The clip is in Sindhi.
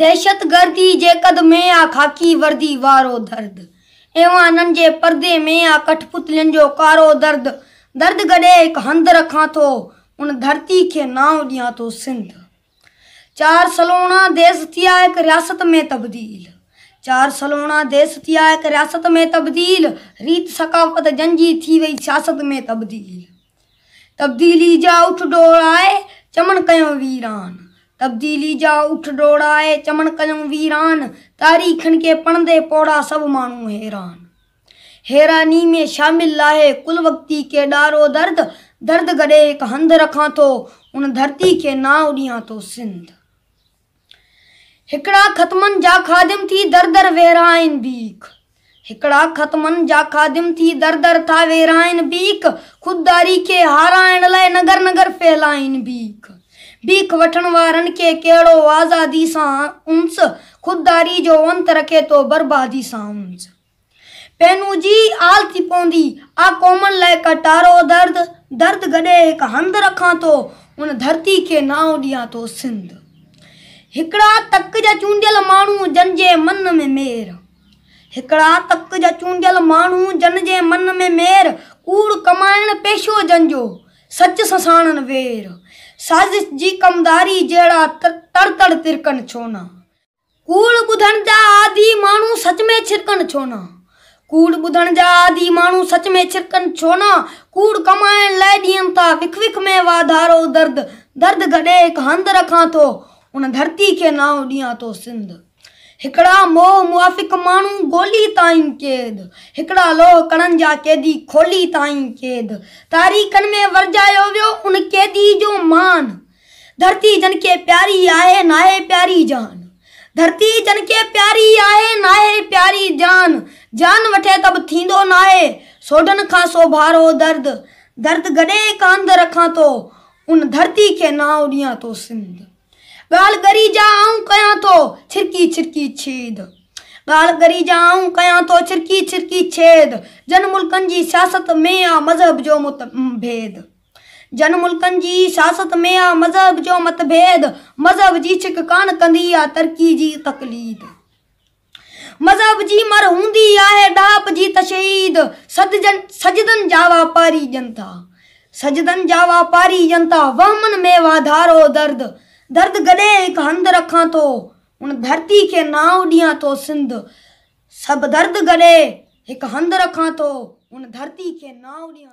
دهشتگردي جي قد ۾ آ خاڪي وردي وارو درد، ايوانن جي پردي ۾ آ ڪٺ پتلين جو ڪارو درد، درد گڏي هڪ هنڌ رکان ٿو، ان ڌرتي کي نانء ڏيان ٿو سنڌ. چار سلوڻا ديس ٿي آ هڪ رياست ۾ تبديل، چار سلوڻا ديس ٿي آ هڪ رياست ۾ تبديل، ريت ثقافت جن جي ٿي وئي سياست ۾ تبديل. تبديلي جا اٺ ڊوڙائي، چمن ڪيون ويران. تبديلي جا اٺ ڊوڙائي، چمن ڪيون ويران. تاريخن کي پڙهندي پوڙها سڀ ماڻهو حيران. حيراني ۾ شامل لاهي ڪل وقتي کي ڏار و درد. درد گڏي هڪ هنڌ رکان ٿو، ان ڌرتي کي نانء ڏيان ٿو سنڌ. هڪڙا ختمن جا خادم ٿي در در ويرائين بيک هڪڙا ختمن جا خادم ٿي در در ٿا ويرائين بيک خودداري کي هارائڻ لاء نگر نگر ڦهلائين بيک بيک وٺڻ وارن کي ڪهڙو آزادي سان انس خودداري جو انت رکي ٿو بربادي سان انس. پينوجي آل ٿي پوندي، آء قومن لاء ڪٽارو درد، درد گڏي هڪ هنڌ رکان ٿو، ان ڌرتي کي نانء ڏيان ٿو سنڌ. هڪڙا تڪ جا چونڊيل ماڻهو جن جي من ۾ مير. هڪڙا تڪ جا چونڊيل ماڻهو جن جي من ۾ مير، ڪوڙ ڪمائڻ پيشو جن جو، سچ سساڻن وير. سازش جي ڪمداري جهڙا تڙتڙ ترڪن ڇو نه. ڪوڙ ٻڌڻ جا عادي ماڻهو سچ ۾ ڇرڪن ڇو نه؟ ڪوڙ ٻڌڻ جا عادي ماڻهو سچ ۾ ڇرڪن ڇو نه؟ ڪوڙ ڪمائڻ لاء ڏين ٿا وک وک ۾ واڌارو درد درد گڏي هڪ هنڌ رکان ٿو ان ڌرتي کي نانء ڏيان ٿو سنڌ هڪڙا موهه موافق ماڻهو ڳولي تائين قيد هڪڙا لوهه ڪڙن جا قيدي کولي تائين قيد تاريخن ۾ ورجايو ويو ان قيدي جو مان ڌرتي جنھن کي پياري آھي ناھي پياري جان ڌرتي جنھن کي پياري آھي ناھي پياري جان جان وٺي ته به ٿيندو ناھي سوڍن کان سوڀارو درد درد گڏي ڪانڌ رکان ٿو ان ڌرتي کي نانء ڏيان ٿو سنڌ ڳالھه ڳري جا آئون ڪيان ٿو ڇرڪي ڇرڪي ڇيد ڳالھه ڳري جا آئون ڪيان ٿو ڇرڪي ڇرڪي ڇيد جن ملڪن جي سياست ۾ آ مذھب جو متڀيد. جن ملڪن جي سياست ۾ آ مذهب جو متڀيد مذهب جي ڇڪ ڪانه ڪندي آ ترقي جي تقليد مذهب جي مر هوندي آهي ڏاهپ جي تشهيد سدجن سجدن جا واپاري ڄن ٿا سجدن جا واپاري ڄن ٿا وهمن ۾ واڌارو درد درد گڏي هڪ هنڌ رکان ٿو هن ڌرتي کي نانء ڏيان ٿو سنڌ سڀ درد گڏي هڪ هنڌ رکان ٿو هن ڌرتي کي نانء ڏيان ٿو.